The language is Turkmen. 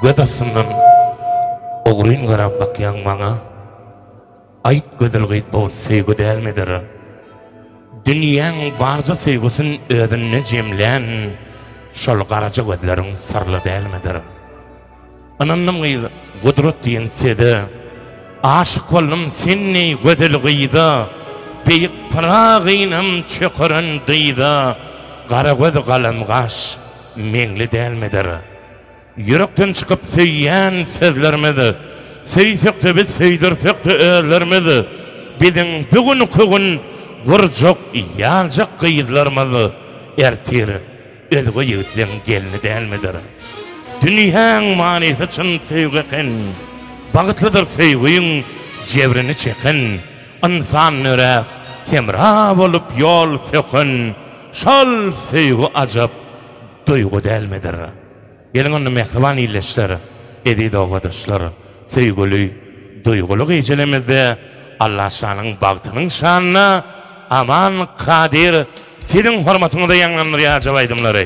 Göz astyndan ogryn garap bakýaň maňa, Aýt gözel gyz bu söýgi dälmidir? Dünýäň barja söýgüsin özünde jemlän Şol garaja gözleriň syrly dälmidir? Ynandym gyz gudrat diýen söze, Aşyk boldum sen deý gözel gyza, Beýik Pyragynyň çökeren dyza, Gara göz galam gaş, Meňli dälmidir? Ýürekden çykyp söýýän sözlerimiz, Söýsek-de biz, söýdürsek-de özlerimiz, Biziň bu günki gün gurjak, ýaljak gyzlarymyz Ertir özge ýigitleň gelni dälmidir? Dünýäň manysy çyn söýgi eken, Bagtlydyr söýgiň jebrini çeken, Ynsan nöräp, hemra bolup ýol söken, Şol söýgi ajap duýgy dälmidir? Geliň onda mähriban ildeşler, eziz obadaşlar, söýgüli, duýguly gijelemizde Allaşanyň bagtynyň şanyna Aman Kadyr siziň hormatyňyza ýaňlandyrýar ajap aýdymlary.